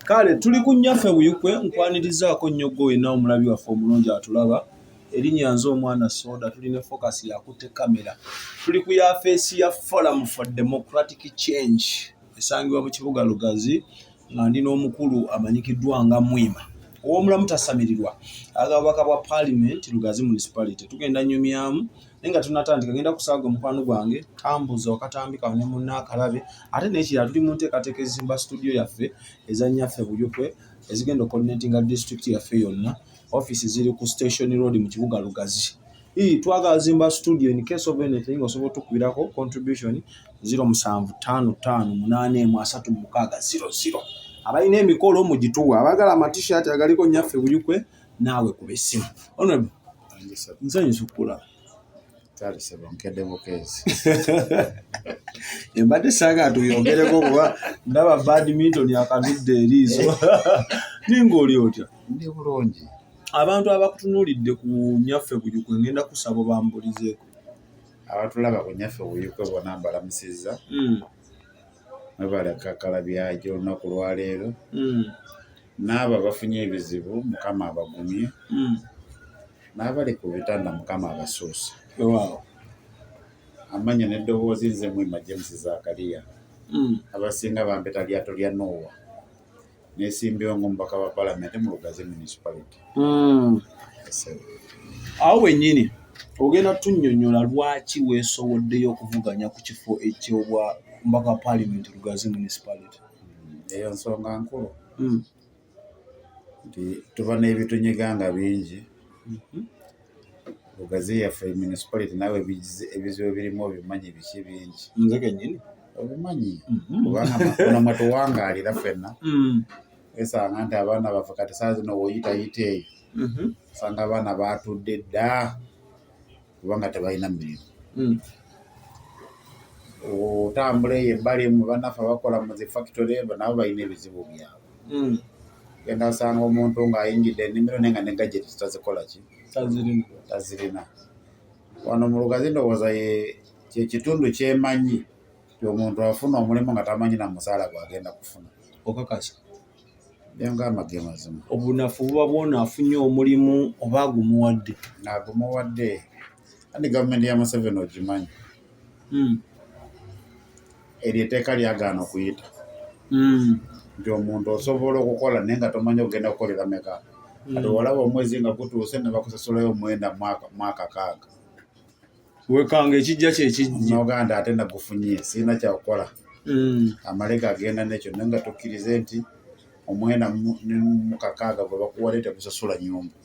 kale tuli ku nnyaffe buyukwe nkwanirizaako nnyo gwe olina omulabi waffe omulungi atulaba erinnya nze omwana soda tuli ne focus yakutte kamera tuli ku yafeesi ya forum for democratic change esangibwa mu kibuga lugazi nga ndi n'omukulu amanyikiddwa nga mwima ow'omulamu tasamirirwa aga bubaka bwa palimenti lugazi municipality tugenda nyumyamu naye nga tunatandika ngenda kusaaga omukwano gwange kambuuza wakatambi kawo ne munna akalabe ate nekirala tuli mu nteekateeka ezizimba situdiyo yaffe ezanyaffe buyukwe ezigenda okoordinatinga disitulikiti yaffe yonna ofiisi ziri ku station road mu kibuga lugazi ii twagala zimba studio in case of anything osobola otukubirako contribution 0755833600 abalina emikolo mugituwa abagala amatishat agaliko nyaffe buyukwe naawe kuba essimu honorable nsanyusa okukulaba talisebo nkedde bukeezi embadde sanga tuyongereko kuba ndaba badminton akabidde eriiso naye ngaoli otya ndi bulungi abantu abakutunuulidde ku nyaffe buyuku ngenda kusaba bambulizeeko abatulaba ku nyaffe buyuku bona mbalamusizza hmm. mwebalekakala byajo olunaku lwaleero hmm. n'abo abafunye ebizibu mukama abagumye hmm. n'abali ku bitanda mukama abasuusa amanya n'eddoboozi nze mwema james zakariya hmm. abasinga bampeta lyato lya noowa nesimbiwo ngaomubaka wa palamenti mu lugazi municipality hmm. awo wenyini ogenda tunyonyola lwaki weesowoddeyo okuvuganya ku kifo ekyobwa mubaka wa palamenti lugazi municipality eyo nsonga nkulu hmm. nti tuba n'ebitunyiga nga bingi hmm. ogazi yaffe municipality nawe ebizibu ebirimu obimanyi biki bingi nze kenyini obimanyi hmm. kubanga makono mwe tuwangaalira fenna esanga nti abaana baffe kati saa zino woyitayita eyo osanga abaana baatudde dda kubanga tebalina mirimu hmm. otambula eyo ebbali mu banaffe abakola mu zi factory nabo balina ebizibu byabwe hmm. genda osanga omuntu ng'ayingidde enimiro naye nga ne gajeti tazikola ki tazirina wano mu lugazi ndowooza kyekitundu kyemanyi ti omuntu afuna omulimu nga tamanyi na musaala gwagenda kufuna okakasa obunafu buba bwona afunye omulimu oba agumuwadde agumuwadde andi gavumenti ya museveni ogimanyi hmm. eryo eteeka lyagaana okuyita hmm. nti omuntu osobola okukola naye nga tomanyi okugenda kukolera meka hmm. kati olaba omwezi nga gutuuse nebakusasulayo omwenda mwaka kaaga wekanga ekijja kyekijja noganda ate nagufunye sirina kyakukola hmm. amaleka agenda nekyo naye nga tukkirize nti omwena mukakaaga gwe bakuwale tegusasula nyumba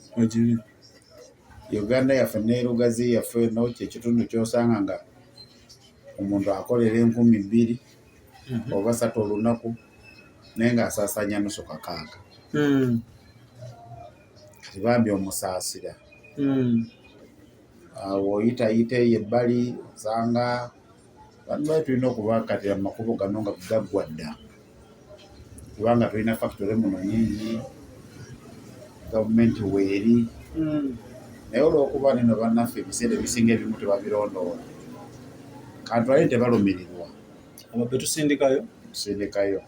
uganda yaffe nerugazi yaffe nokyo ekitundu kyosanga nga omuntu akolera enkumi bbiri mhm. oba satu olunaku naye nga asasanya nusu kakaaga hmm. kati bambi omusaasira hmm. awo oyitayita eyo ebbali osanga banubali tulina okubakatira mu makubo gano nga gaggwa dda kubanga tulina fakitore muno nyingi gavumenti weeri hmm. naye olwokuba nino bannaffe ebiseera ebisinga ebimu tebabirondoola kantwale tebalumirirwa ababbe tusindikayo tusindikayo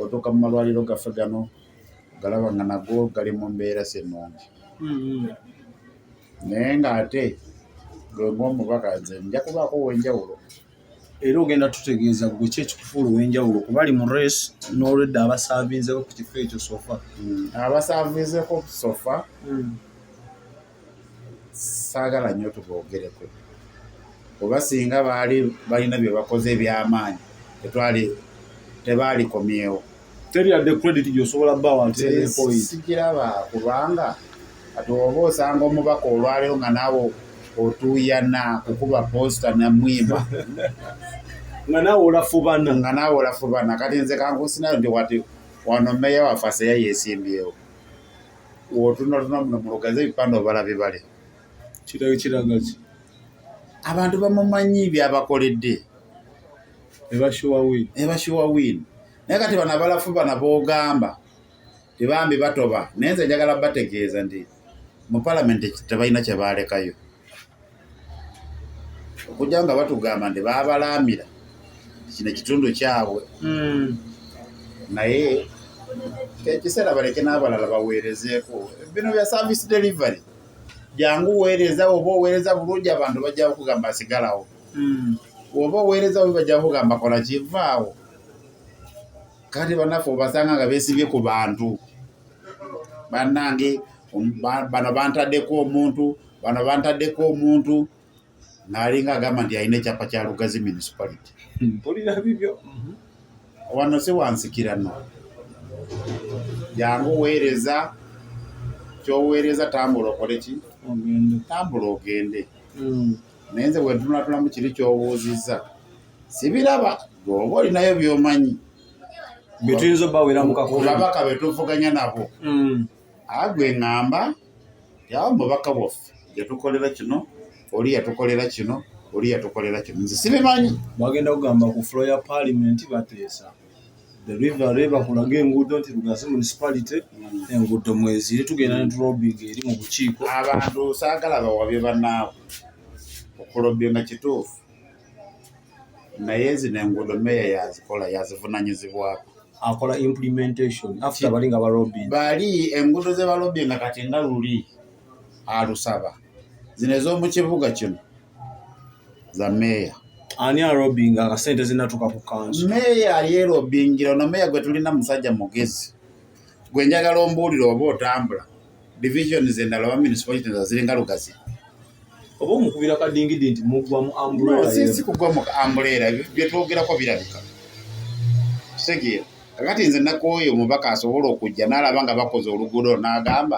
otuuka mu malwaliro gaffe gano galaba nga nago gali mu mbeera si nnungi hmm, hmm. naye ng'ate gwe ng'omubaka nze nja kubaako ow'enjawulo era ogenda tutegeeza gwe ki ekikufuula ow'enjawulo kuba ali mu res n'olwedda abasaavinzeko ku kifo ekyo sofa hmm, abasaavinzeko ku sofa hmm. saagala nnyo tuboogereko oba singa baali balina bye bakoze eby'amaanyi tetwali tebaalikomyewo teri yadde credit gyosobola bawa ntisikiraba kubanga kati oba osanga omubaka olwaleero nga naawe otuuyana kukuba posta namwimba nga naawe olafubana nga naawe olafubana kati nze kankusinayo nti wati wano meya waffe aseya yesimbyewo wotunotuna muno mulugaze ebipande obala bibale kiragaki abantu bamumanyi byabakoledde ebashuwa win ebashuwa win naye kati bano abalafu bana bogamba tebambi batoba naye nze njagala bategeeza nti mu palamenti tebalina kyebalekayo okujja nga batugamba nti babalaamira kino ekitundu kyabwe hmm. naye ekiseera baleke n'abalala baweerezeeko bino bya service delivery jangu weereza oba oweereza bulungi abantu bajja kugamba asigalawo Hmm. oba oweereza obi bajja kugamba kola kivaawo kati banaffe obasanga nga besibye ku bantu bannange um, bano bantaddeko omuntu bano bantaddeko omuntu ng'alinga agamba nti alina ekyapa kya lugazi municipality mpulira bibyo mhm. wano si wansikira no jangu weereza kyoweereza tambula okole ki tambula ogende hmm. naye nze bwentunatulamu kiri kyobuuzizza sibiraba gweoba olinayo byomanyi byetuyinza obaweramukababaka betuvuganya nabo mm. agwe ngamba yawo mubaka bwaffe yatukolera kino oli yatukolera kino oli yatukolera kino nze sibimanyi bagenda kugamba ku flo ya palimenti bateesa delivery bakulaga enguudo nti lugazi municipality enguudo mweziri tugenda ne tulobinga eri mu bukiiko abantu saagala bawabye banaabwe okulobinga kituufu naye zino enguudo meeya yazikola yazivunanyizibwako akola implementation after bali nga balobinga bali enguudo ze balobinga kati nga luli alusaba zino ez'omu kibuga kino za meeya ani arobinga nga sente zinatuka ku kanso meeya yeerobingira ono meeya gwe tulina musajja mugezi gwe njagala ombuulire oba otambula divisions endala oba municipalities aziringa lugazi oba omukubira kadingidi nti mugwa mu ambulasi kugwa mu ambulera byetwogerako birabika kitegeera kakati nze nakooyo omubaka asobola okujja n'alaba nga bakoze oluguudo n'agamba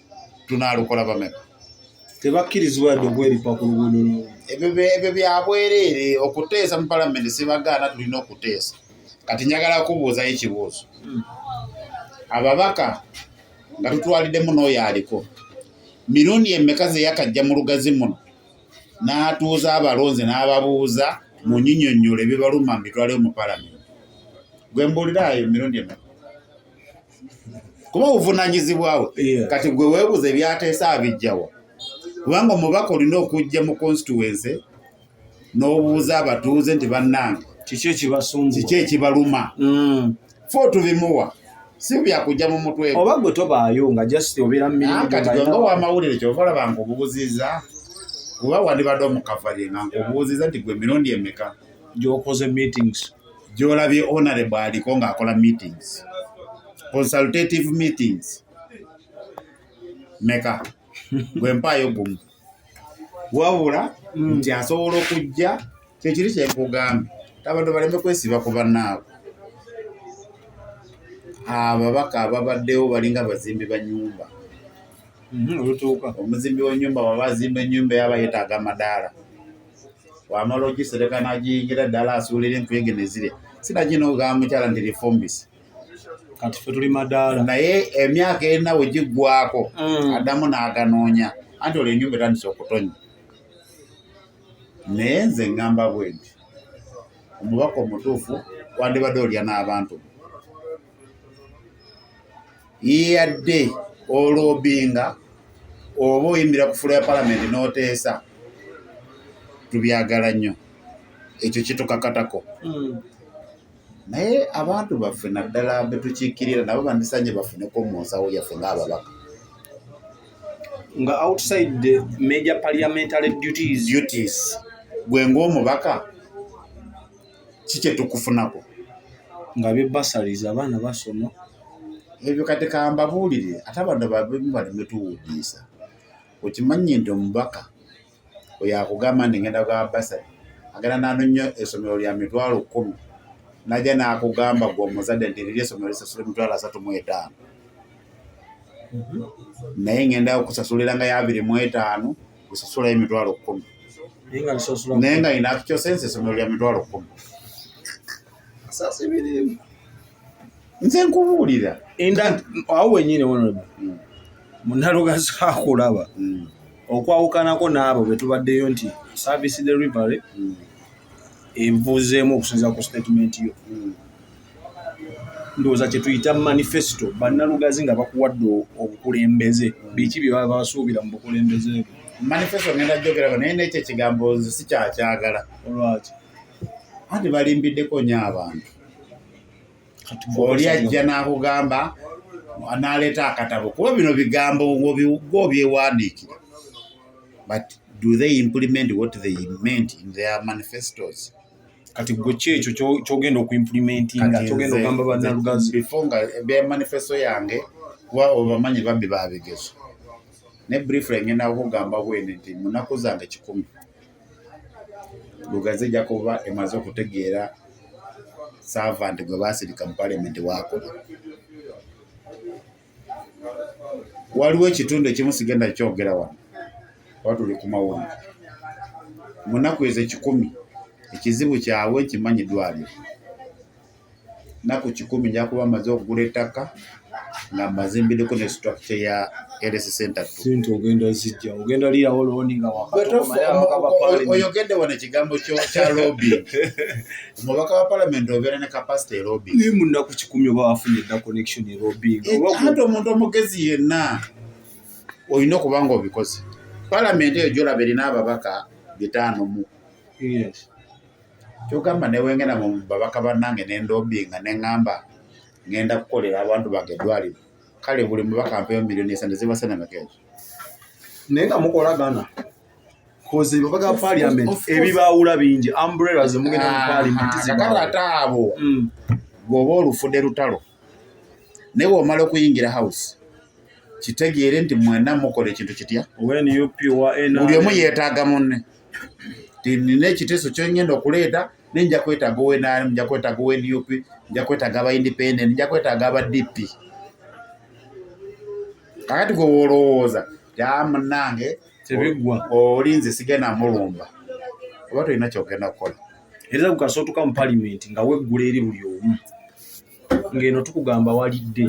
tunaalukola bameka tebakkirizibwa yadde okweripa ku luguudo lwo ebyo byabwereere okuteesa mu palamenti sibagaana tulina okuteesa kati njagala kubuuzayo ekibuuzo hmm. ababaka nga tutwaliddemu n'oyo aliko mirundi emeka zeyakajja mu lugazi muno n'atuuza abalonzi n'ababuuza mu nyinyonnyole bibaluma mitwaleyo mu palamenti gwe mbuuliraayo mirundi emeka kuba obuvunanyizibwa bwe yeah. kati gwe webuza ebyateesa abijjawa kubanga omubaka olina okujja mu constituency n'obuuza abatuuze nti bannange kiki ekibasumbu kiki ekibaluma mm. fo tubimuwa si byakujja mu mutwe oba gwe tobaayo nga just obeera mu mirimu kati gwe nga wamawulire kyova olaba nga obubuziza kuba wandibadde omukavalye nga nkubuuziza nti gwe emirundi emeka gyokoze meetings gyolabye honorable aliko ng'akola meetings consultative meetings meka gwe mpaayo gumu wabula mm. nti asobola okujja kyekiri kyenkugambye abantu baleme kwesiba ku bannaabwe ababaka ababaddewo balinga bazimbi ba nyumba mm-hmm, omuzimbi wa nyumba waba azimba enyumba yaba yetaaga amadaala wamala ogisereka nagiyingira ddala asuulira enkuyege nezire sinagina okugamba mukyala nti lifumbisi kati fe tuli madaala naye emyaka erina we giggwako mm. addamu n'aganoonya anti olwo enyumba etandisa okutonya naye nze ngamba bwe nti omubaka omutuufu wandibadde olya n'abantu yeyadde olobinga oba oyimirira ku fulo ya palamenti n'oteesa tubyagala nnyo ekyo kitukakatako hmm. naye abantu baffe naddala betukiikirira nabo bandisanye bafuneko mu nsawo yaffe ng'ababaka nga outside the major parliamentary duties duties gwe ng'omubaka ki kyetukufunako nga be basaliza abaana basoma ebyo kati kambabuulire ate abantu babimu baleme tuwudiisa okimanyi nti omubaka oyo akugamba nti ngenda gwa basali agenda nanonya esomero lya mitwalo kumi naja nakugamba gwe omuzadde nti liri esomero lisasula emitwalo asatu mu etaano mhm. naye ngenda okusasulira nga yabiri mu etaano kusasulayo emitwalo kkumi naye nga ina akicyosense esomero lya mitwalo kkumi nze nkubuulira awo wenyini wonoda hmm. munaloga zakulaba hmm. okwawukanako n'abo betubaddeyo nti service delivery hmm. evuzeemu okusinzira ku statement yo ndowooza kye tuyita manifesito bannalugazi nga bakuwadde obukulembeze biki bye baba basuubira mu bukulembeze bwe manifesito ngenda gyogerako naye nekyo ekigambo nze sikyakyagala olwaki anti balimbiddeko nyo abantu oli ajja n'akugamba n'aleeta akatabo kuba bino bigambo gwo byewandiikira but do they implement what they meant in their manifestos kati gwe ki ekyo kyogenda okuimplementinga kyogenda ogamba banalugazi before nga ebya manifesto yange kuba obamanyi bambi babigezo ne briefly ngenda kugamba bwene nti munaku zange kikumi lugazi ejja kuba emaze okutegeera servant gwe basirika mu parliament wakola waliwo ekitundu ekimu sigenda kyogera wano oba tuli ku mawulire mu nnaku ezo ekikumi ekizibu kyabwe nkimanyi ddwaliro nnaku kikumi nja kuba maze okugula ettaka nga mazimbireko ne situakite ya LSC Center tu. Sente ogenda zijja, ogenda liya oloni nga wakati. Oyogedde wano ekigambo kya lobby. omubaka wa palamenti obeera ne kapasite erobi naye munaku kikumi oba wafunye dda connection erobi eh, ate omuntu omugezi yenna olina okuba nga obikoze palamenti eyo gyolaba erina ababaka bitaano mu kyogamba newengenda mu babaka bannange nendobi nga neŋamba ngenda kukolera abantu bange eddwaliro kale buli mubaka mpeyo miliyoni esande zibasana makeezo naye nga mukolagana koze baba ga parliament ebibaawula bingi umbrella ze mugenda mu ah, parliament zibala taabo mm. gobo olufude lutalo ne wo malo kuyingira house kitegeere nti mwena mukole kintu kitya when you pure energy uliyo muyetaga munne tinine ekiteso kyonyenda okuleeta ne nja kwetaga owe nani nja kwetaga owe nup nja kwetaga aba independent nja kwetaga aba dp kakati gwe wolowooza yamunange tebigwa oli nze sigenda mulumba oba tolina kyogenda kukola era lukasa otuka mu palimenti nga weggula eri buli omu ng'eno tukugamba walidde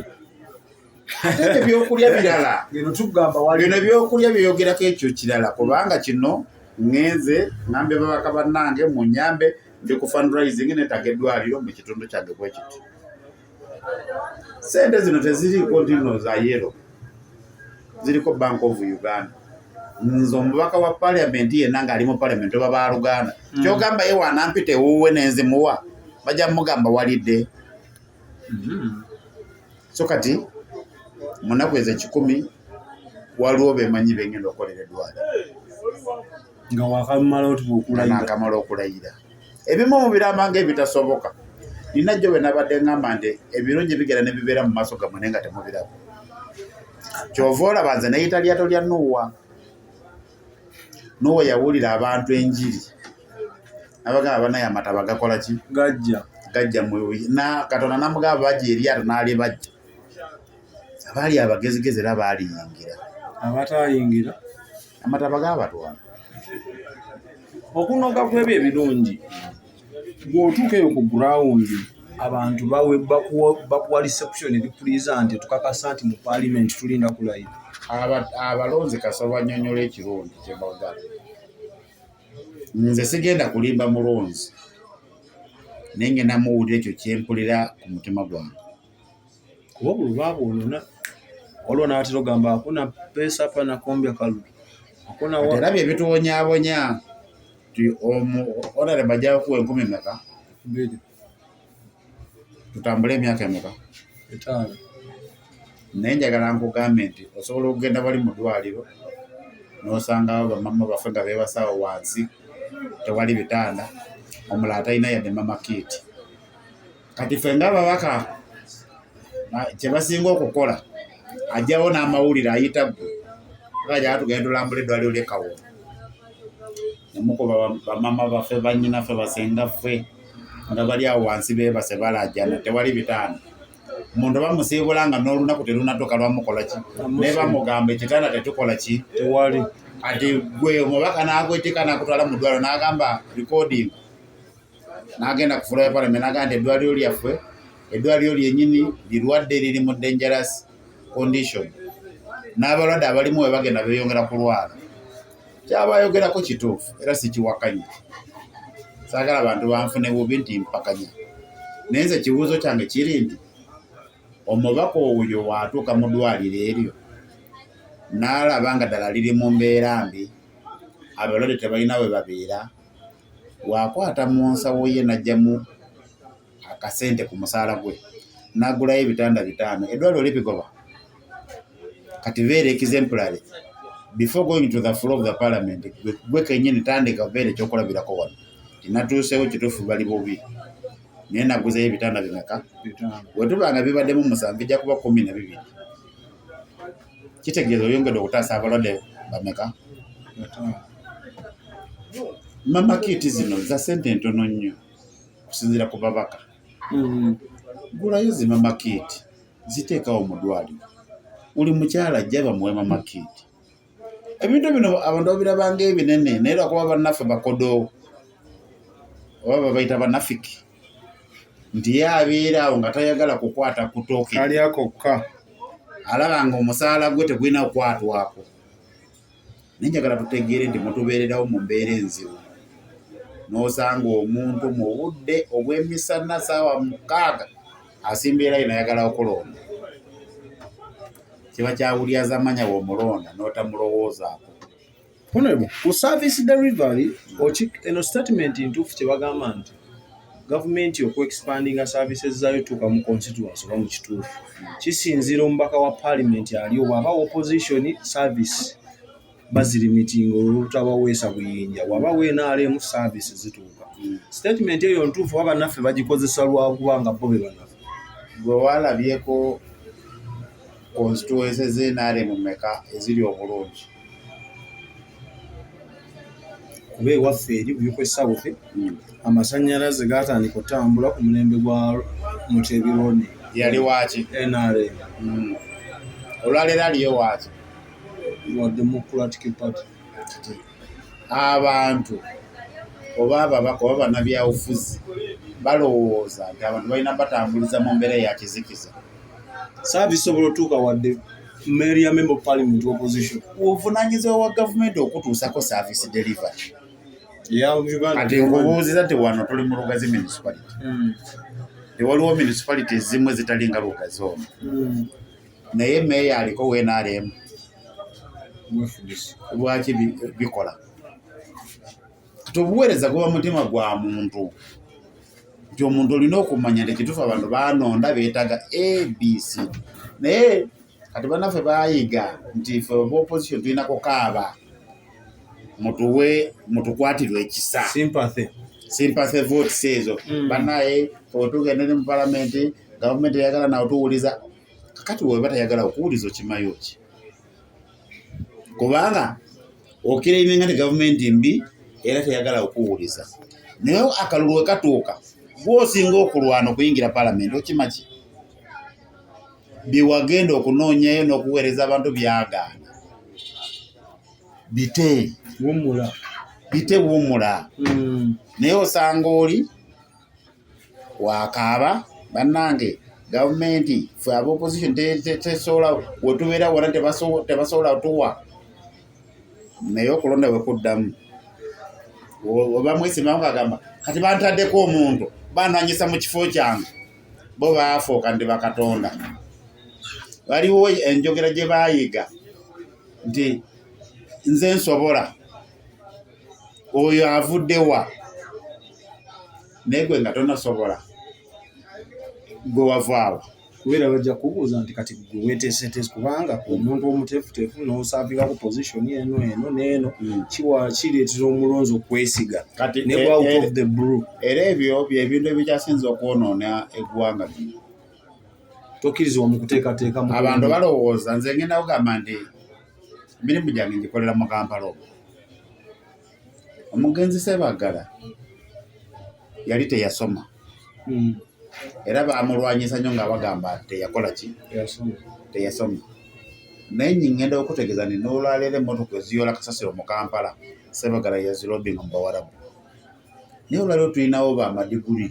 ebyokulya birala ng'eno tukugamba walidde bino ebyokulya byeyogerako ekyo kirala kubanga kino ngenze ngambe babaka bannange mu nyambe ndi ku fundraising netaga eddwaliro mu kitundu kyange bwekiti sente zino teziriiko ndino za yero ziriko bank of uganda nze omubaka wa parliament yenna ng'ali mu parliament oba baluganda mm. kyogamba ye wanampita ewuwe nenzimuwa bajja mugamba walidde mm-hmm. so kati munaku ezo ekikumi waliwo bemanyi bengenda okukolera edwala nga wakamala otuba okulayira nakamala okulayira ebimu mubiramba nga ebitasoboka nina jjo bwenabadde ngamba nti ebirungi bigera nebibeera mu maaso gamwe naye nga temubiraba kyova olaba nze neyita lyato lya nuwa nuwa yawulira abantu enjiri abagamba banaye amataba gakola ki gajja gajja mu katonda namugamba bajja eryato nalibajja abaali abagezigezi era baaliyingira abataayingira amataba gaabatwala okunoga kwebyo ebirungi bw'otuuka eyo ku gurawundi abantu bakuwa reception ebikuliza nti tukakasa nti mu paalimenti tulinda kulayira abalonzi kasaba nyonyola ekirungi kyebagala nze sigenda kulimba mulonzi naye ngenda muwulira ekyo kyempulira ku mutima gwange kuba buli lwabwonona waliwo nabatera ogamba akuna pesa apa nakombya kalu era bye bituwonyabonya ti omu onare bajayo kuwa enkumi meka tutambule emyaka emeka etaano naye njagala nkugambe nti osobola okugenda bali mu ddwaliro n'osangawo bamama baffe nga beebasawo wansi tewali bitanda omulala talina yadde mama kiiti kati ffe nga ababaka kyebasinga okukola ajjawo n'amawulire ayita gwe ayaa tugenda tulambula eddwaliro lyekawo nemukuba bamama baffe banyina ffe basenga ffe nga bali awo wansi bebase balajana tewali bitaano omuntu bamusiibula nga n'olunaku terunatuka lwamukola ki naye bamugamba ekitanda tetukola ki tewali kati gwe omubaka n'agwetika n'akutwala mu ddwaliro n'agamba recording n'agenda ku fulaya palamenti n'agamba nti eddwaliro lyaffe eddwaliro lyenyini lirwadde liri mu dangerous condition n'abalwadde abalimu we bagenda beeyongera kulwala kyaba ayogerako kituufu era sikiwakanya saagala bantu banfune bubi nti mpakanya naye nze ekibuuzo kyange kiri nti omubaka oyo waatuuka mu ddwaliro eryo n'alaba nga ddala liri mu mbeera mbi abalwadde tebalina we babeera waakwata mu nsawo ye n'aggyamu akasente ku musaala gwe n'agulayo ebitanda bitaano eddwaliro libigoba kati beera ekizempulale before going to the floor of the parliament gwe kenyini tandika beera ekyokulabirako wano tinatuusewo kituufu bali bubi naye naguzeyo ebitanda bimeka wetubanga bibaddemu musanvu ijja kuba kumi na bibiri kitegeeza oyongedde okutaasa abalwadde bameka mama kiiti zino za sente ntono nnyo okusinziira ku babaka mm-hmm. gulayo zi mama kiiti ziteekawo mu ddwaliro buli mukyala ajja bamuwe mama kiiti ebintu bino abantu babirabanga ebinene naye lwakuba bannaffe bakodoowo oba babaita banafiki nti ye abeera awo nga tayagala kukwata kutooke alya kokka alaba nga omusaala gwe tegulina kukwatwako naye njagala tutegeere nti mutubeererawo mu mbeera enzibu n'osanga omuntu mu budde obw'emisana saawa mukaaga asimbeera ye nayagala okulonda kiba kyawulyaza manya womulonda n'otamulowoozaako Honorable, ku service delivery oki eno statement ntuufu kye bagamba nti gavumenti okuexpandinga services zaayo tuuka mu constituency oba mu kituufu kisinziira omubaka wa paalimenti ali obwaba opposition service bazirimitinga olwolutabaweesa buyinja waba wenaalemu service zituuka statement eyo ntuufu oba bannaffe bagikozesa lwakuba nga bo be banafe gwe walabyeko constituency zenaalemu meka eziri obulungi kuba ewaffe eri buyuko esawuthi hmm. amasanyalaze gatandika otambula ku mulembe gwa mutebirone yali waki nrm hmm. olwaleero aliyo waki wa democratic party abantu oba ababaka oba banabyabufuzi balowooza nti abantu balina batambuliza mu mbeera eyakizikiza saabisobola otuuka wadde Mary ya member of parliament opposition ovunanyizibwa wa gavumenti okutuusako service delivery kati nkubuuziza ti wano tuli mu lugazi municipality hmm. ewaliwo municipality ezimu ezitali nga lugazi ono hmm. naye meeya aliko wenaremu lwaki bikola kati obuweereza guba mutima gwa muntu nti omuntu olina okumanya nti ekituufu abantu banonda beetaaga abc naye kati banaffe bayiga nti fe oba opposition tulina kukaaba mutuwe mutukwatirwe ekisa sympathy sympathy votes ezo mm. banaye otugende ne mu palamenti gavumenti eyagala nawe tuwuliza kakati weba tayagala okuwuliza okimayo ki kubanga okirabye nga ne gavumenti mbi era teyagala okuwuliza naye akalulu we katuuka gwosinga okulwana okuyingira palamenti okimaki byewagenda okunoonyayo n'okuweereza abantu byagaana bite wumula bite wumula hmm. naye osanga oli wakaaba bannange gavumenti fe aba opposition tesobola wetubeera wona tebasobola tuwa naye okulonda wekuddamu obamwesimamu kagamba kati bantaddeko omuntu bananyisa mu kifo kyange bo baafuuka ndi bakatonda waliwo enjogera gye baayiga nti nze nsobola oyo avudde wa naye gwe nga tonasobola gwe wavaawa kubeera bajja kubuuza nti kati gwe weteeseteesi kubanga omuntu omuteefuteefu n'osaabika ku position eno eno n'eno hmm. kiwa kireetera omulonzi okwesiga ne eh, out eh, of the blue era ebyo byebintu ebikyasinza okwonoona eggwanga lino tokkirizibwa mu kuteekateekamu abantu balowooza nze ngenda kugamba nti emirimu gyange ngikolera mu kampala omu omugenzi sebagala yali teyasoma hmm. era bamulwanyisa nyo nga bagamba teyakola ki teyasoma naye nyingenda okutegeza ni nolwaleero emotoka eziyola kasasiro mu kampala sebagala yazirobinga mu bawarabu naye olwaleero tulinawo bamadiguli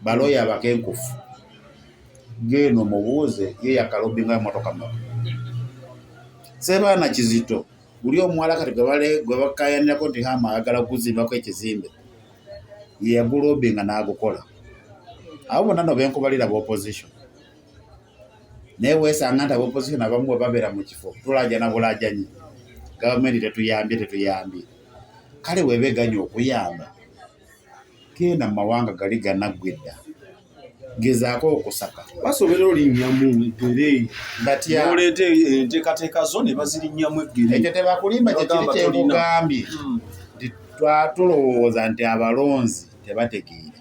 balooya abakenkufu geeno mubuuze ye yakalobinga emotoka maka sebaana kizito guli omuwala kati gwe bakayanirako nti hama ayagala kuzimbako ekizimbe yeyagulobinga n'agukola abo bonna no benkubalira bopposition naye wesanga nti abopposition abamu bwe babeera mu kifo tulajana bulajanyi gavumenti tetuyambye tetuyambye kale webeganya okuyamba genda mu mawanga gali ganaggwa edda gezaako okusaka basobera olinnyamu eggere ngatyaleeta enteekateeka zo ne bazirinnyamu eggere ekyo tebakulimba kyekiri kyekugambye hmm. nti twatulowooza nti abalonzi tebategeera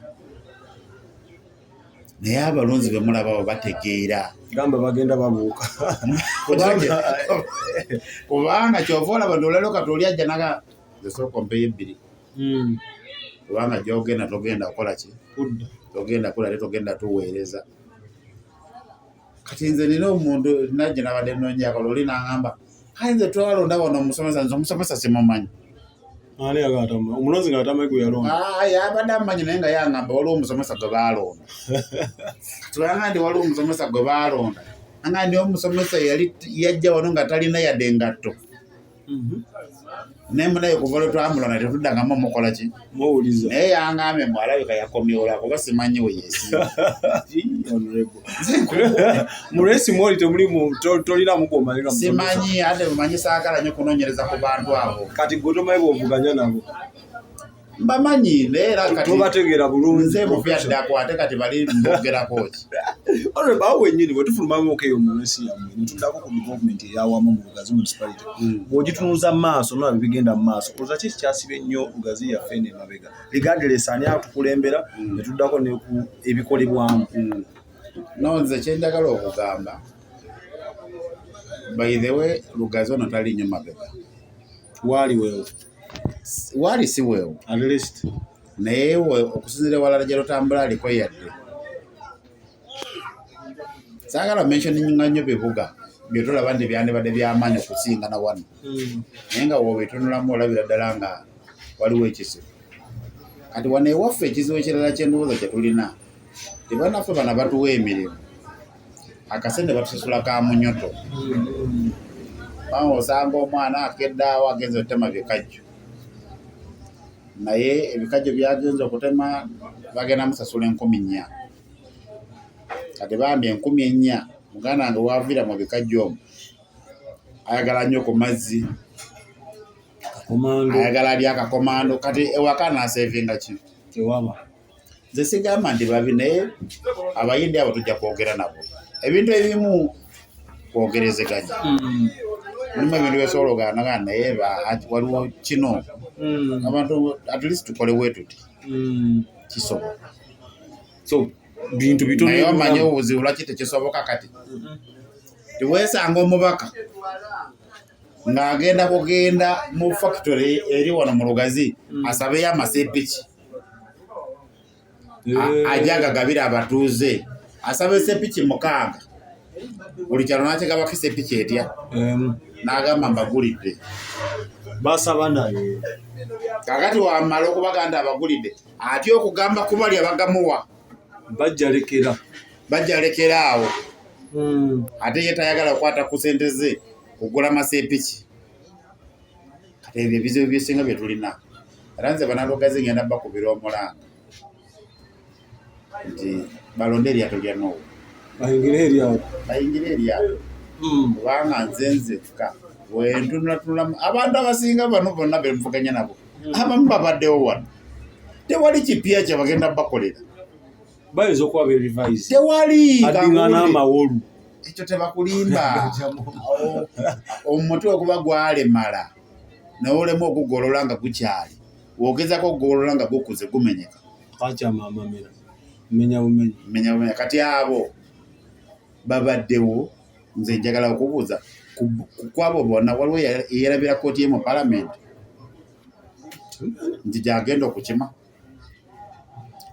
naye abalonzi bemulabawo bategeera gamba bagenda babuuka kubanga kyova olaba nolalo kati oli ajja naga esooka mpeyo ebbiri hmm. kubanga gyogenda togenda kukola ki togenda kula te togenda tuweereza kati nze nina omuntu najje nabadde nonyakala oli nangamba kale nze twalonda wano omusomesa nze omusomesa simumanyi ani agatama omulozi nga atama gwe yalonda ah yabadde amanyi naye nga yangamba waliwo omusomesa gwe baalonda tubanga nti waliwo omusomesa gwe baalonda anga ndi omusomesa yali yajja wano nga talina yadde engatto mhm. naye munaye kuva lwe twamulona tetuddangamu omukola ki muwuliza naye yangambye mbu alabika yakomyola kuba simanyi we yesiimulesi mwoli temulimu tolinamu gwomalira simanyi ate mumanyi saagala nyo kunonyereza ku bantu abo kati gwe tomanyi bwovuganya nabo mbamanyi naye era kati tubategeera bulungi nze mu bya ddako ate kati bali mbogerako ki olwo bawo wenyini bwe tufulumamu oke yo mu nsi yammwe ne tuddako ku gavumenti eyawamu mu lugazi municipality hmm. bw'ogitunuza mu maaso nolaba bigenda mu maaso kuza ki ekikyasiba ennyo lugazi yaffe eno emabega ligadelesi ani atukulembera hmm. ne tuddako ne ku ebikolebwamu hmm. no nze kye njagala okugamba by the way lugazi ono tali nnyo mabega waali wewo waali si weewo naye we okusinzira ewalala gye lutambula aliko yadde saagala mentioninga nnyo bibuga byetulaba nti byandibadde byamaanyi okusinga na wano hmm. naye nga wobitunulamu olabira ddala nga waliwo ekizibu kati wano ewaffe ekizibu ekirala kyendowooza kyetulina tebanaffe bana batuwa emirimu akasente batusasula ka munyoto bawo osanga omwana akeddaawo agenze okutema bikajjo naye ebikajjo byagenze okutema bagenda musasula enkumi nnya kati bambi enkumi ennya muganda wange waviira mu bikajjo omu ayagala nnyo ku mazzi ayagala lyakakomando kati ewaka nasevinga ki tewaba nze sigamba nti babi naye abayindi abo tujja kwogera nabo ebintu ebimu kwogerezeganya hmm. mulimu ebintu byesobola oganagana naye waliwo kino hmm. abantu at least tukole wetuti hmm. kisobola so bintu bitonaye omanye obuzibu lwaki tekisoboka kati tiwesanga omubaka ng'agenda kugenda mu factory eri wano mu lugazi mm. asabeyo amasepiki ajja gagabira abatuuze asaba esepiki mukaaga buli kyalo nakigabako esepiki etya n'agamba mbagulidde basaba naye kakati wamala okubaganda abagulidde atya okugamba kubali abagamuwa bajjalekera bajalekera awo hmm. ate ye tayagala kukwata ku sente ze kugula masepiki kati ebyo ebizibu byesinga bye tulina era nze banalogazi ngenda bakubira omulanga nti balonde eryato lya nowe bayingire eryato bayingire eryato hmm. kubanga nze nzekka wentunatunulamu abantu abasinga bano bonna bemvuganya nabo hmm. abamu babaddewo wano tewali kipya kyebagenda bakolera bayinza okuba berivise tewali adingana amawolu ekyo tebakulimba omutwe okuba gwalemala nawe olemu okugolola nga gukyali wogezako okugolola nga gukuze gumenyeka akyamamamira menya bumenya menya bumenya kati abo babaddewo nze njagala okubuuza kukwabo bona waliwo eyerabira kooti emu palamenti nti gyagenda okukima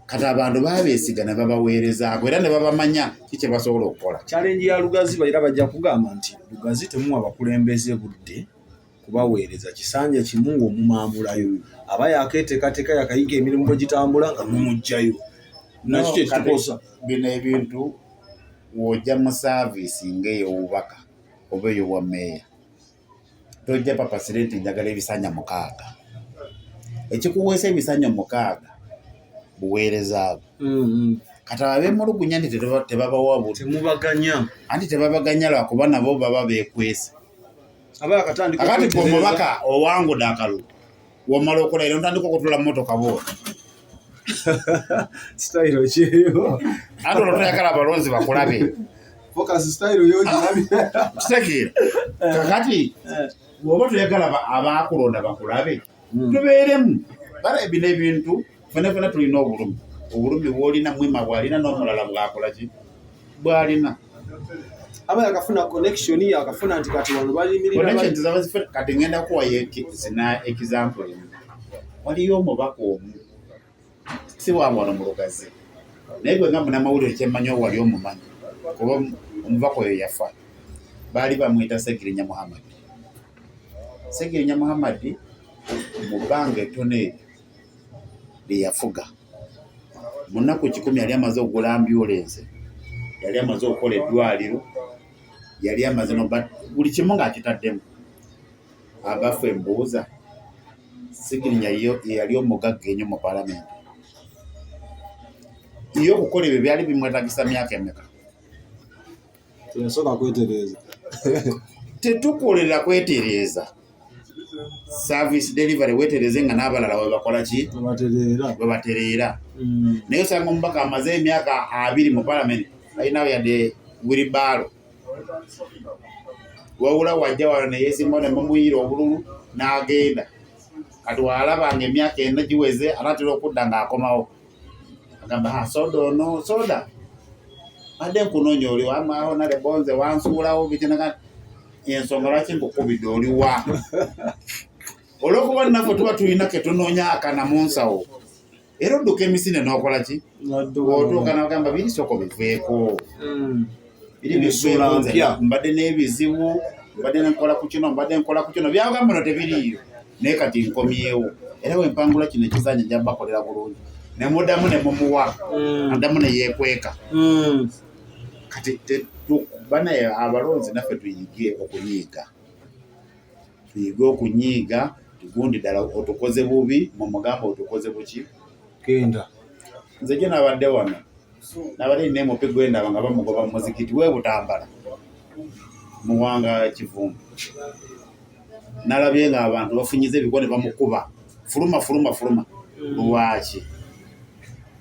kati abantu babesiga ne babaweerezaako era ne babamanya ki kye basobola okukola kyalengi ya lugazi era bajja kugamba nti lugazi temuwa bakulembeze budde kubaweereza kisanja kimu ng'omumaamulayo aba yakeeteekateeka yakayiga emirimu bwe gitambula nga mumugjayo nakyo kyekitukosa bino ebintu w'ojja mu saaviisi ng'ey'obubaka oba ey'obwa meeya tojja papasire nti njagala ebisanja mukaaga ekikuweesa ebisanja mukaaga buweereza bwo mm-hmm. kati abemulugunya nti tebabawa butemubaganya anti tebabaganya lwakuba nabo baba bekwesa akati omubaka owangude akalulu womala okola era ntandika okutula mumotoka boo sitayiro kyeyo ati olwo toyagala abalonzi bakulabe fokasi sitayiro yo girabi kitegeera eh. kakati eh. bwoba toyagala abakulonda bakulabe hmm. tubeeremu bala ebino ebintu fena fena tulina obulumi obulumi bwolina mwima bwalina n'omulala bwakola ki bwalina aba yakafuna connection yakafuna nti kati wano balimirkati ngenda kuwayo zina example emu waliyo omubaka omu si wawano mulugazi naye gwe nga munamawulire kyemmanyi owali omumanyi kuba omubaka oyo yafa baali bamwita segirinya muhammadi segirinya muhammadi mu bbanga ettono eryo lye yafuga. Mu nnaku kikumi yali amaze okugula ambyulense, yali amaze okukola eddwaliro, yali amaze buli kimu ng'akitaddemu. Abaffe mbuuza, Sigirinya yeyali omugagga enyo mu palamenti? Ye okukola ebyo byali bimwetagisa myaka emeka? Teyasoka kwetereeza. Tetukolera kwetereeza. Service delivery wetereze nga n'abalala we bakola ki? We batereera. Mm. Naye osanga omubaka amaze emyaka abiri mu palamenti alinawo yadde wiribaalo. Wabula wajja wano ne yeesimbawo ne mumuyiira obululu n'agenda. Kati walaba ng'emyaka ena giweze anaatera okudda ng'akomawo. agamba ah, soda ono soda adde nkunonya oli wamaawo nale bonze wansuulawo bikinagana ensonga lwaki nkukubidde oli wa olwokuba naffe tuba tulina ketunoonya akana mu nsawo era odduka emisinde nokola ki otuuka nagamba biri soko biveeko hmm. ensuula mpya mbadde n'ebizibu mbadde nkola ku kino mbadde nkola ku kino byagamba no tebiriiyo naye kati nkomyewo era wempangula kino ekizanyo nja bakolera bulungi nemudamu nemumuwa mm. adamu neyekweka mm. kati banaye abalonzi naffe tuyige okunyiiga tuyige okunyiiga tugundi ddala otukoze bubi mumugamba otukoze buki genda nze gye nabadde wano nabadde nina emupi gwendaba nga bamugoba mu muzikiti we butambala muwanga kivumbi nalabye nga abantu bafunyiza ebigwa ne bamukuba fuluma fuluma fuluma lwaki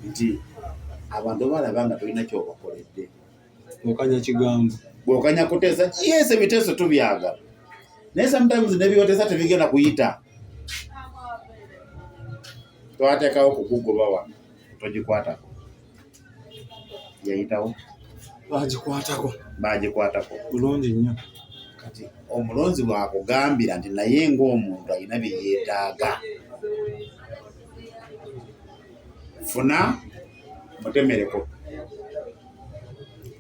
nti abantu balaba nga tolina kyobakoledde okanya kigambo bwokanya kuteesa yes ebiteeso tubyagala naye sometimes nebibateesa tebigenda kuyita twatekawo kukugoba wano togikwatako yayitawo bagikwatako bagikwatako bulungi nnyo kati omulonzi bwakugambira nti naye ngaomuntu alina byeyetaaga funa mutemereko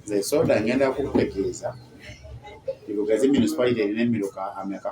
nze soda ngenda kukutegeeza ibugazi municipality erina emiruka ameka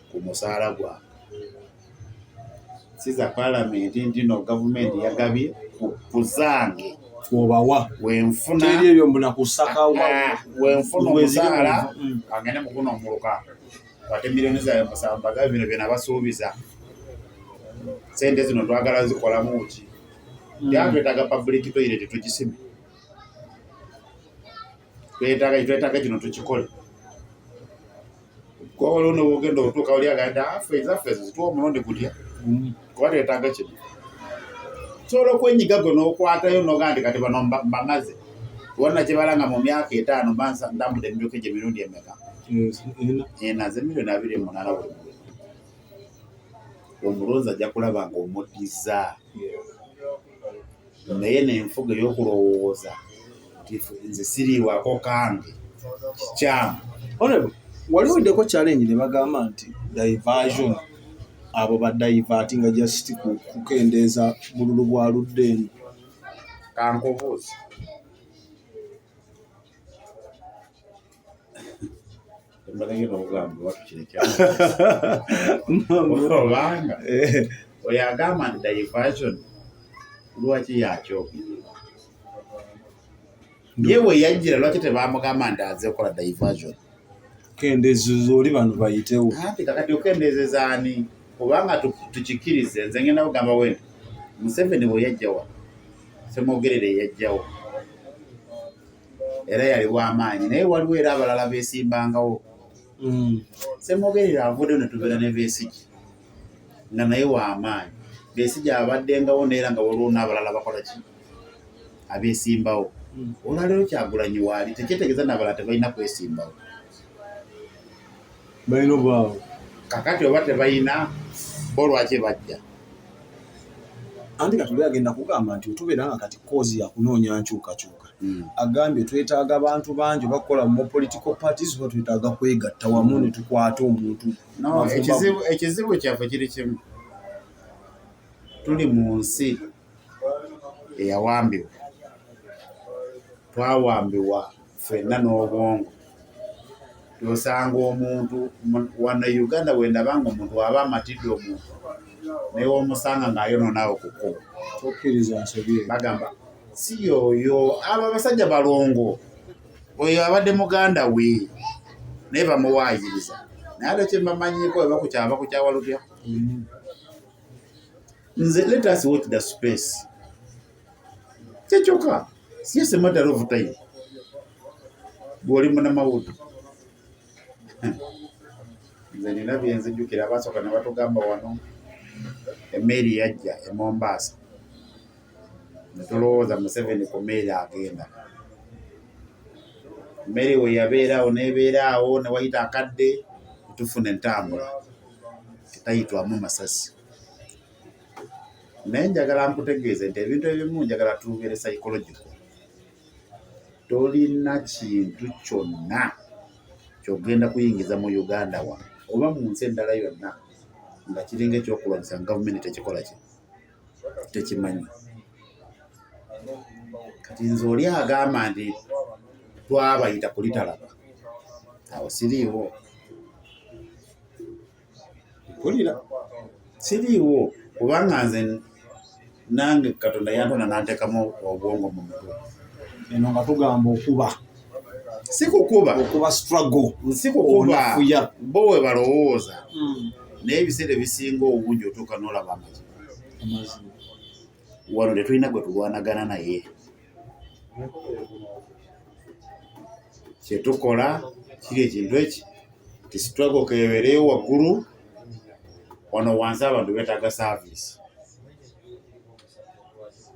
ku musaala gwange siza palamenti ntino gavumenti yagabye ku zange obawa wenfuna ebyo mbula kusaka eh, wenfuna omusaala mm. agende mukuna omuluka ate miliyoni zawe musamba gabe bino byona basuubiza sente zino twagala zikolamu ki mm. yatwetaga public toilet tugisime twetaga twetaga kino tukikole kuba waliwo nobugenda okutuuka wali aganda afe ah, ezaffe ezo zituwa omulundi gutya mm. kuba twetaaga kino sobola okwenyiga gwe nokwatayo nogaa nti kati bano mbamaze wonna kibala nga mu myaka etaano bansa ndambude emyuka egyo emirundi emeka ena ze miliyoni abiri munana buli mulu omulonzi ajja kulaba nga omuddiza naye nenfuga eyokulowooza nze siriwako kange kikyamu wali weddeko challenge ne bagamba nti diversion abo ba divati nga just kukendeeza bululu bwa ludde eno kankubuuzi obanga eh. oyo agamba nti diversion lwaki yakyogirira ye we yajjira lwaki tebamugamba nti aze okukola diversion kendeezo zoli bano bayitewo anti kakati okendeezeza ani kubanga tukikirize nze ngenda kugamba we museveni weyajjawa semwogerere yajjawo era yali w'amaanyi naye waliwo era abalala beesimbangawo mm. semogerera avudde ne tubeera ne beesigi nga naye w'amaanyi beesigi abaddengawo naye era nga waliwo n'abalala bakola ki abeesimbawo mm. olwaleero kyagulanyi waali tekyetegeeza n'abalala tebalina kwesimbawo balina obwawo kakati oba tebalina bo lwaki bajja anti kati oli agenda kugamba nti otubeera nga kati koozi yakunoonya nkyukakyuka hmm. agambye twetaaga abantu bangi oba kukola mu political parties oba twetaaga kwegatta wamu ne tukwata omuntu ekizibu kyaffe kiri kimu tuli mu nsi eyawambibwa twawambibwa fenna n'obwongo osanga omuntu wano e uganda bwendaba nga omuntu waba amatidde omuntu naye omusanga ng'ayononaawo ku kkubo tokkiriza nsobi bagamba si yoyo abo abasajja balongo oyo abadde muganda we naye bamuwaayiriza naye ate kyemamanyiko ebakukyaba kukyawa lutya mm. nze let us watch the space kyekyoka siyese matter of time bwoli munamawudu nze nina byenzijukira abasooka nebatugamba wano emeeri yajja emombaasa netulowooza museveni ku meeri agenda meeri weyabeeraawo nebeeraawo newayita akadde tufuna entambula etayitwamu masasi naye njagala nkutegeeze nti ebintu ebimu njagala tubeere psychological tolina kintu kyonna kyogenda kuyingiza mu uganda wa oba mu nsi endala yonna nga kiringa ekyokulwanyisa nga gavumenti tekikola ki tekimanyi kati nze oli agamba nti twabayita kulitalaba awo siriiwo mpulira siriiwo kubanga nze nange katonda yantona nantekamu obwongo mu mutwe eno nga tugamba okuba sikukuba okuba struggle sikukubafuya bo we balowooza hmm. naye ebiseera ebisinga obungi otuuka nolaba amazima wano tetulina gwe tulwanagana naye kyetukola kiri ekintu eki ti struggle kebereyo waggulu wano wansi abantu betaaga service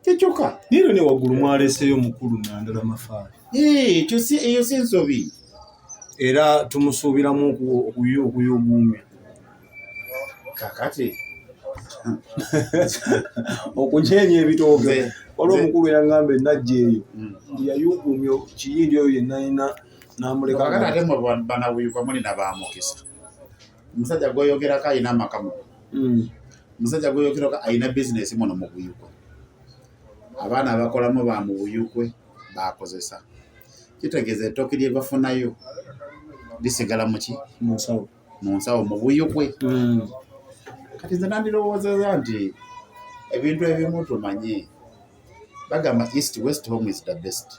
kyekyoka nero ne waggulu mwaleseyo mukulu nandala mafaali eyo si nsobi era tumusuubiramu okuyuguumya kakati okunyeenya ebitooke waliwo omukulu yangamba enajja eyo mm. yayugumya kiyindi oyo yenayina namulekanauyuka muli nabamukisa omusajja gweyogerako alina amaka mu mm. omusajja gweyogerako alina bizinesi muno mu buyukwe abaana abakolamu ba mu buyukwe bakozesa kitegeeza ettooke lyebafunayo lisigala muki mu nsawo mu buyukwe mm. kati nze nandirowoozeza nti ebintu ebimu tumanye bagamba east west home is the best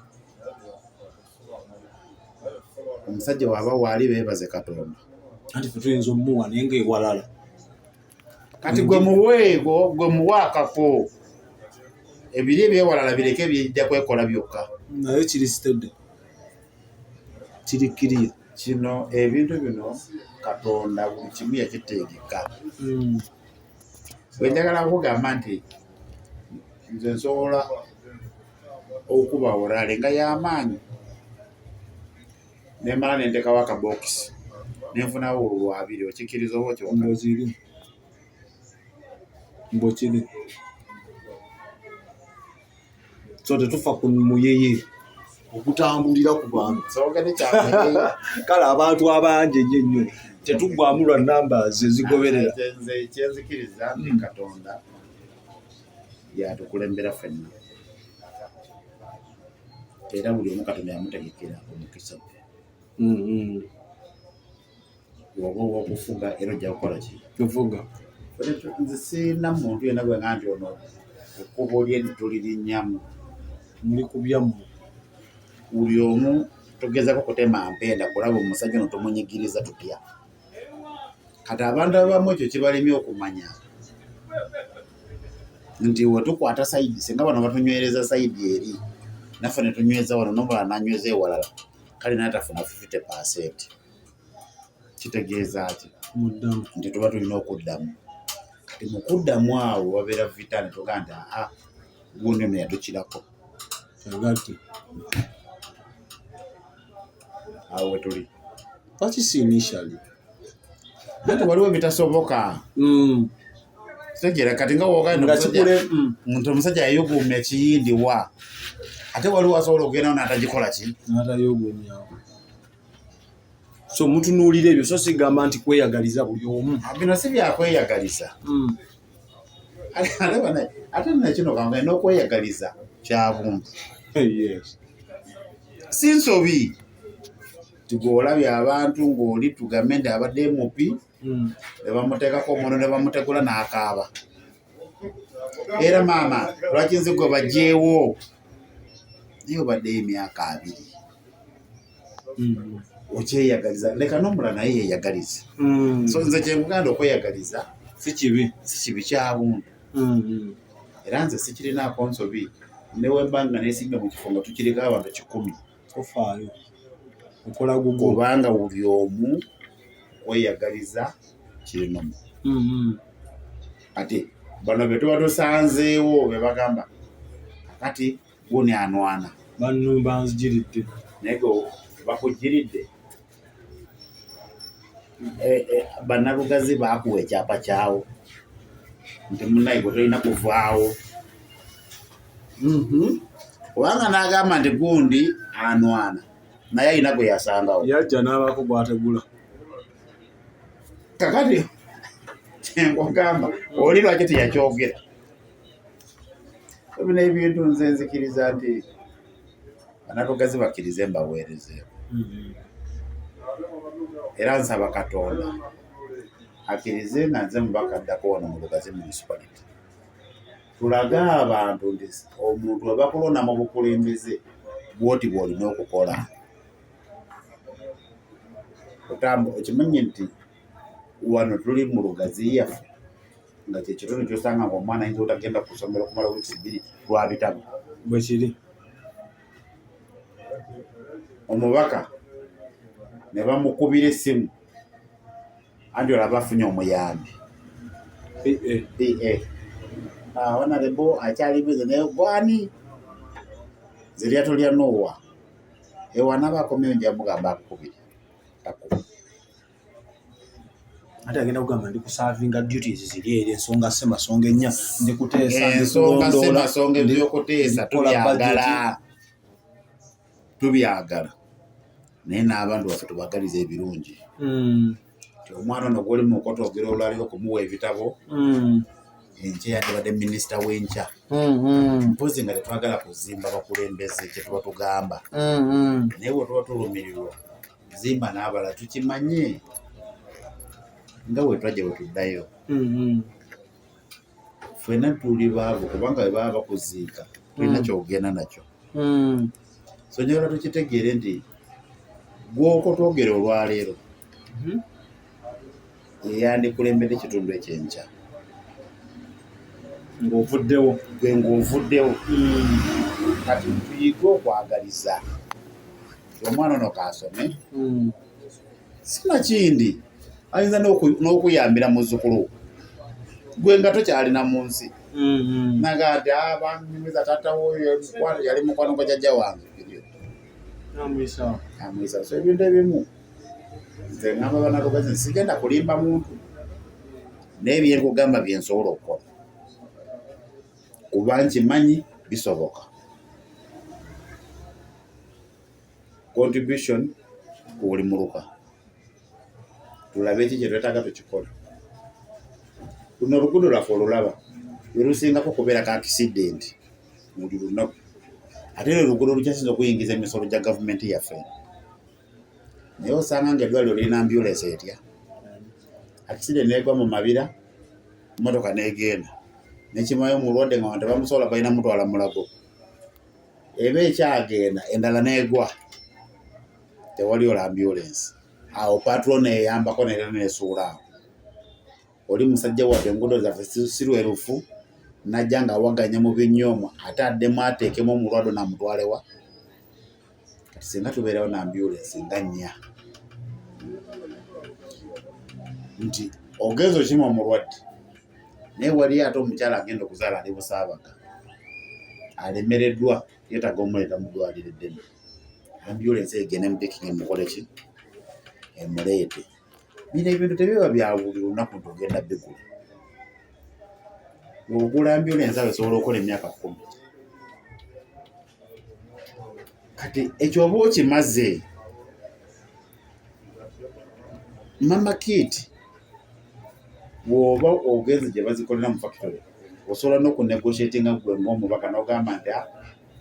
omusajja waba waali bebaze katonda anti fetuyinza omuwa naye nga ewalala kati gwe muweego gwe muwa akafo ebiri ebyewalala bireke bijja kwekola byokka naye kiri sitede kiri kiriyo kino ebintu bino katonda buli kimu yakiteegeka hmm. bwe njagala kugamba nti nze nsobola okuba orale nga yamaanyi nemala nentekawo akabokisi nenfunawo olwabiri okikkiriza oba okyokiri mbwekiri so tetufa ku muyeye okutambulira ku bantu kale abantu abangi enyo ennyo tetuggwamu lwa numbers ezigoberera kyenzikiriza nti hmm. katonda yatukulembera fenna era buli omu katonda yamutegekera omukisa gwe hmm, hmm. oba owokufuga era ojja kukola ki tufuga nze sirina muntu yena gwe nga nti ono ekkubo lye tulirinnyamu muli kubyammwe buli omu tugezako kutema mpenda kulaba omusajja ono tumunyigiriza tutya kati abantu abamu ekyo kibalemye okumanya nti wetukwata saidi singa bano batunywereza saidi eri naffe netunyweza wano nomulala nanyweza ewalala kale naye tafuna 50 percent kitegeeza ki nti tuba tulina okuddamu kati mu kuddamu awo wabeera vita ne tugaa nti aa gundi no yatukirako agati awo wetuli pakisi initially ate waliwo ebitasoboka mm. kitegera kati nga wogenda mm. nti omusajja yayuguuma ekiyindi wa ate waliwo asobola okugendawo natagikola ki so mutunuulira ebyo so sigamba nti kweyagaliza buli omu ah, bino si byakweyagaliza mm. ate nakino kanga nokweyagaliza kyabuntu si nsobi tigwolabye abantu ng'oli tugambe nti abadde mupi hmm. ne bamuteekako omuntu ne bamutegula n'akaaba era maama lwaki nze gwe bajeewo naye obaddeyo emyaka abiri hmm. okyeyagaliza leka nomula naye yeyagalize hmm. so nze kyemuganda okweyagaliza sikibi sikibi kyabuntu era nze sikirinaako nsobi newembanga nesimbe mu kifo nga tukireka abantu kikumi tofaayo okola gugu kubanga buli omu kweyagaliza kirinomu mm-hmm. ati bano betuba tusanzeewo bebagamba kakati guni anwana banumba nzijiridde naye ge bakujiridde eh, eh, banalugazi baakuwa ekyapa kyawo nti munaye gwe tolina kuvaawo mhm. kubanga n'agamba nti gundi anwana naye alina gwe yasangawo yajja n'abaako gwategula kakati kyenkugamba oli lwaki teyakyogera ebino ebintu nze nzikiriza nti banatogazi bakirize mbaweerezeeko mm-hmm. era nsaba katonda akirize nga nze mubaka addako wano mu lugazi munisipaliti tulage abantu nti omuntu webakulonda mu bukulembeze bwoti bwolina okukola otambu okimanyi nti wano tuli mu lugazi yaffe nga kyekitundu kyosanga nga omwana ayinza otagenda kusomera okumala wiisi bbiri lwa bitabo bwekiri omubaka ne bamukubira essimu anti olaba afunye omuyambi onalebo eh, eh. ah, akyalibize naye gwani zeryato lya nowa ewanaba akomyeyo njamugamba akukubire ate agenda kugamba ndi kusavinga duties ziri eri ensonga semasonga ennya ndi kuteesa ensongasemasonga ebyokuteesa tubyagala tubyagala naye n'abantu baffe tubagaliza ebirungi hmm. ti omwana ono gwoli mukoto ogera olwaliro okumuwa ebitabo hmm. enkya yandibadde minisita w'enkya hmm, mpozi nga tetwagala kuzimba bakulembeze kyetuba tugamba naye wetuba tulumirirwa zimba n'abala tukimanye nga bwe twajja bwe tuddayo mm-hmm. ffena tuli baavu kubanga bwe baba bakuziika tulina mm. kyogenda nakyo mm. so nyola tukitegeere nti gwokotwogere olwaleero mm-hmm. yeyandikulembedde ekitundu ekyenkya ng'ovuddewo gwe ng'ovuddewo kati tuyige okwagaliza omwana ono kaasome hmm. sinakindi ayinza n'okuyambira muzzukulu gwe nga tokyalina mu nsi hmm. naga ti ah, banyumiza tatawo yali mukwano gwa jajja wange amuyisa so ebintu ebimu nze ngamba banalugezi nsigenda kulimba muntu naye byenkugamba byensobola okukola kuba nkimanyi bisoboka contribution ku buli muluka tulabe ki kyetwetaaga tukikola luno oluguudo lwaffe olulaba lwelusingako kubeera ka akisidenti muli lunaku ate lwe luguudo lukyasinza okuyingiza emisolo gya gavumenti yaffe naye osanga nga eddwaliro lirina ambulensi etya akiside negwa mu mabira motoka negenda nekimayo omulwadde nga bantu bamusobola balina mutwala mulago eba ekyagenda endala negwa tewali ola ambulensi awo patro neyambako nera nesuula awo oli musajja wadde enguudo zaffe sirwerufu najja nga awaganya mu binyoomu ate addemu ateekemu omulwado namutwalewa kati singa tubeerawo na ambulensi nga nnya nti ogenza okima omulwadde naye waliyo ate omukyala agenda okuzaala ali busaabaga alemereddwa yetaga omuleeta mudwaliro eddene ambulensi egende mupikingi mukoleki emuleete Bino ebintu tebiba bya buli lunaku nti ogenda bigula. Ng'ogula mbyola ensalo esobola okukola emyaka kkumi. Kati ekyo oba okimaze. Mama Kit bw'oba ogenze gye bazikolera mu factory osobola n'okunegotiatinga ggwe ng'omubaka n'ogamba nti ah,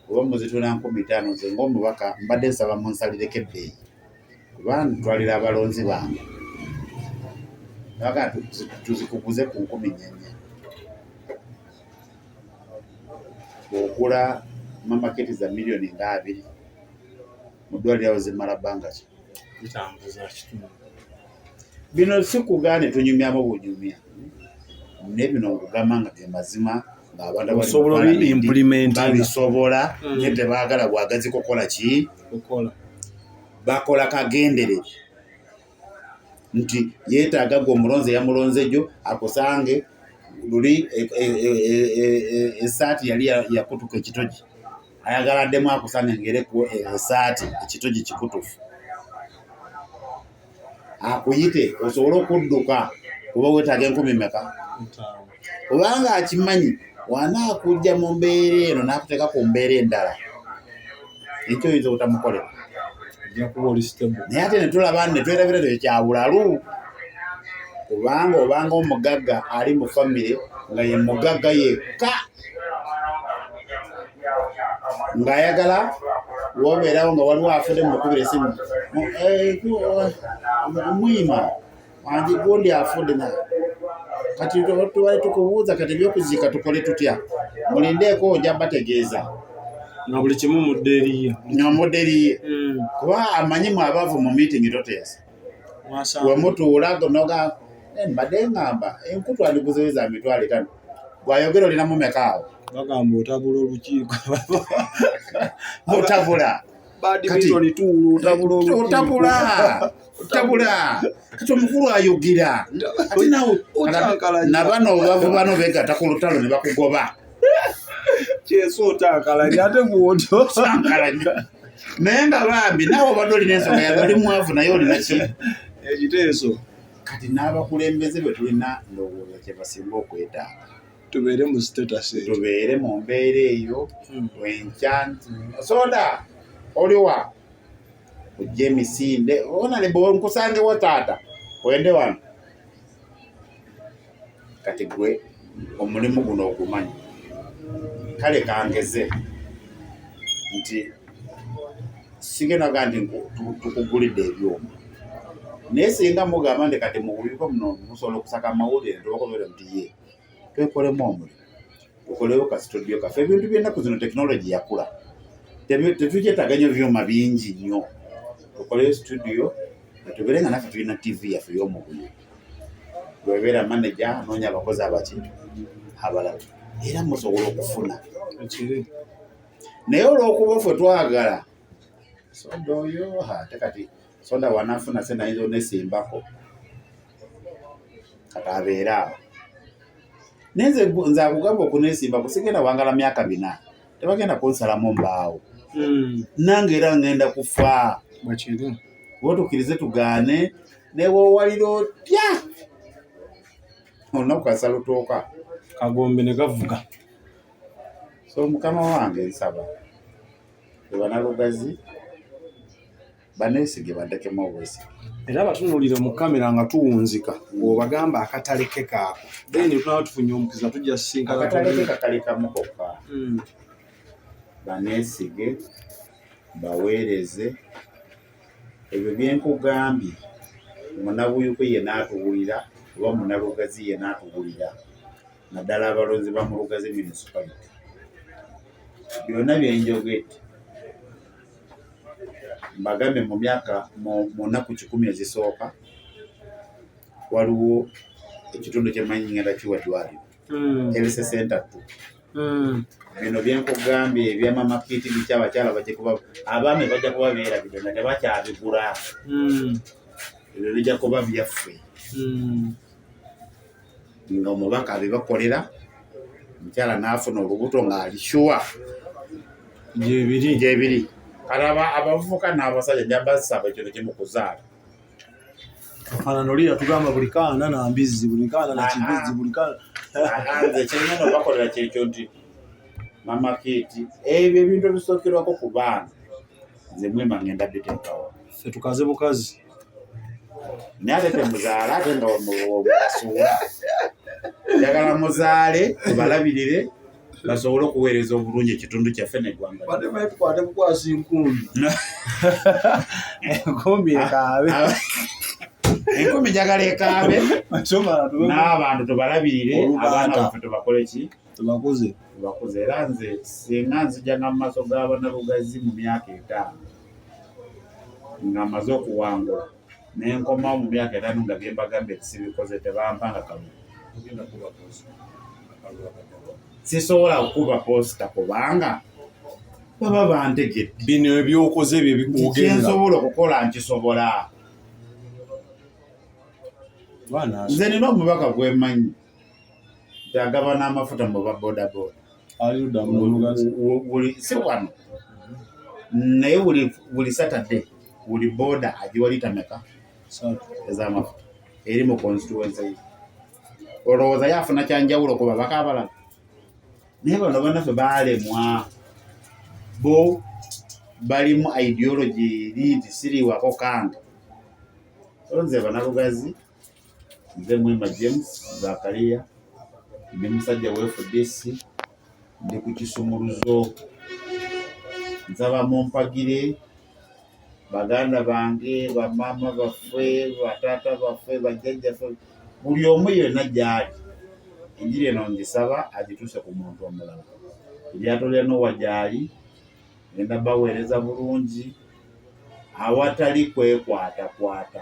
oba muzitunda nkumi ttaano nze ng'omubaka mbadde nsaba munsalireko ebbeeyi. kuba ntwalira abalonzi bange aga tuzikuguze ku nkumi nyenye okula mamaketi za miliyoni nga abiri mu ddwaliro awo zimala bbanga ki bino si kugaane tunyumyamu bunyumya naye bino nkugamba nga ge mazima ngaabantubabisobola mm. naye tebaagala bwagazi kukola ki bakola kagenderere nti yeetaaga gwe omulonzi eyamulonze gyo akusange luli esaati e, e, e, yali yakutuka ekitogi ayagala addemu akusange ngereku esaati ekitogi kikutufu akuyite osobole okudduka kuba wetaaga enkumi meka obanga akimanyi wanaakujja mu mbeera eno n'akuteeka ku mbeera endala ekyo oyinza obutamukolera naye ate ne tulaba ne twerabira tyo kyabulalu kubanga obanga omugagga ali mu famire nga ye mugagga yekka ng'ayagala wobeerawo nga waliwo afudde mu mukubira esimu eh, muyima andi gundi afudde na kati tubale tukubuuza kati ebyokuziika tukole tutya mulindeeko ojja bategeeza nga buli kimu mudde eriye nga mudde eriye hmm. kuba amanyi mu abaavu mu miitingi toteesa wemutuula noga eh, mbadde ngamba enkutu andiguzeeza mitwalo etano gwayogera olina mumeka awo bagamba otabula olukiiko otabula otabula kati omukulu ayogera nabano bavuba no begata ku lutalo ne bakugoba kyeso otankalanya ate gwoto tankalanya naye nga bambi nawe obadde olina ensonga yabe oli mwavu naye olina ki ekiteeso kati n'abakulembeze bwe tulina ndowooza kye basinga okwetaaga tubeere mu status eyo tubeere mu mbeera eyo hmm. wenkyanti soda oliwa ojja emisinde ona ne bwe nkusangewo taata wende wano kati gwe omulimu guno ogumanyi kale kangeze nti sigenda ga nti tukugulidde ebyuma naye singa mugamba nti kati muwulireko muno musobola okusaka amawulire nti obakobeera nti ye twekolemu omulimu tukolewo ka studio kaffe ebintu byennaku zino tekinologi yakula tetukyetaaga nyo byuma bingi nnyo tukoleyo studio netubeere nga naffe tulina tv yaffe yomubuyo webeera manaja anoonya abakozi abaki abalala era musobola okufuna naye olwokuba ffe twagala soda oyo ate kati so that wanafuna sente ayinza onesimbako kati abeere awo naye nze nze akugamba okunesimbako sigenda wangala myaka bina tebagenda kunsalamu mbaawo hmm. nange era ngenda kufa wotukirize tugaane newowalira otya olunaku kasalutooka kagombe ne gavuga so mukama wange nsaba banalugazi baneesige baddekemu obwesige era batunuulire mu kamera nga tuwunzika ng'obagamba akatale ke kaako then tunaba tufunye omukisa tujja sisinkanaakatale ke kakali kamu kokka hmm. baneesige baweereze ebyo byenkugambye munabuyuko ye naatuwulira oba munalugazi ye naatuwulira naddala abalonzi ba mu Lugazi municipality. Byonna bye njogedde mbagambye mu myaka mu nnaku kikumi ezisooka waliwo ekitundu kyemanyi ngenda kiwa ddwaliro hmm. health center tu hmm. bino byenkugambye ebyamama kiti biki abakyala bajja kuba abaami bajja kuba beera bino nga tebakyabigula hmm. ebyo bijja kuba byaffe nga omubaka abibakolera omukyala n'afuna olubuto ng'ali shuwa gyebiri gyebiri kati abavubuka n'abasajja jabasaba ekintu kimu kuzaala kafanana oli yatugamba buli kaana na mbizzi buli kaana na kibizzi buli kaana nze kirina no bakolera kyekyo nti mama kiti ebyo ebintu ebisookerwako ku baana nze mwema ngenda biteekawo ffe tukaze bukazi naye ate temuzaala ate nga mubasuula njagala muzaale tubalabirire basobole okuweereza obulungi ekitundu kyaffe neggwangakwate bukwasa enkumbi enkumbi ekaabe enkumbi njagala ekaabe n'abantu tubalabirire abaana baffe tubakoleki tubakuze tubakuze era nze singa nzijanga mu maaso g'abana lugazi mu myaka etaano nga maze okuwangula nenkomawo mu myaka etaano nga byembagambye tisibikoze tebampanga kamu sisobola kukuba posita kubanga baba bantegedde bino ebyokoze bye bikugensobola okukola nkisobola nze nina omubaka gwemanyi agaba n'amafuta mu ba bodaboda si wano naye buli satade buli boda agiwalitameka ez'amafuta eri mu constituency ye olowooza yafuna kyanjawulo ku babaka abalala naye bano banaffe balemwa bo balimu ideology eri nti siriwako kanga olonze banalugazi nze Mwema James Zakaria ndi musajja wa FDC ndi ku kisumuluzo nsaba mumpagire baganda bange bamaama baffe bataata baffe bajjajjaffe buli omu yenna gyali enjiri eno ngisaba agituuse ku muntu omulala eryato lya nowa gyali ngenda baweereza bulungi awatali kwekwatakwata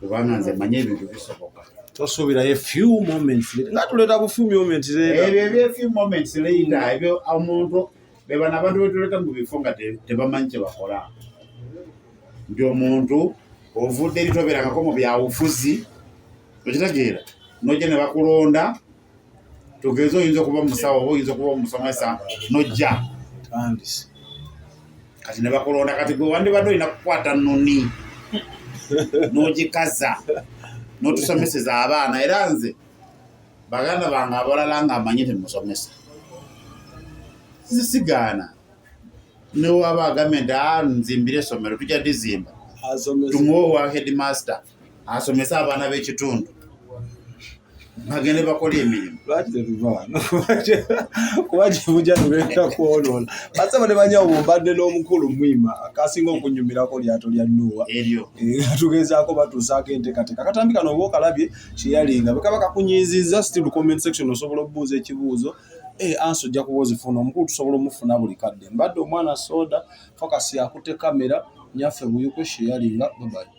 kubanga nze manyi ebintu bisoboka tosuubirayo few moments nga tuleeta bu few moments ebyo ebyo few moments later ebyo omuntu bebano abantu betuleeta mu bifo nga tebamanyi kyebakola nti omuntu ovudde eri tobeerangako mu byawufuzi okitegeera nojja ne bakulonda tugeze oyinza okuba omusawo oba oyinza okuba omusomesa nojja kati nebakulonda kati gwe wandibadde olina kukwata noni nogikaza notusomeseza abaana era nze baganda bange abalala nga amanyi temusomesa zisigaana newaba agambe nti ah, nzimbire esomero tujja dizimba tumuwe owa headmaster asomese abaana b'ekitundu bagende bakola emirimu lwaki tetuva wano kuba kibuja tugenda kwonoona basaba ne banyawo bumbadde n'omukulu mwima akasinga okunyumirako lyato lya nuwa eryo eh, tugezaako batuusaako enteekateeka katambi kano oba okalabye kyeyalinga bwekaba kakunyiizizza still comment section osobola okubuuza ekibuuzo eh, ansi ojja kuba ozifuna omukulu tusobola omufuna buli kadde mbadde omwana soda focus yakutte kamera nyaffe buyuko sheyalinga babayi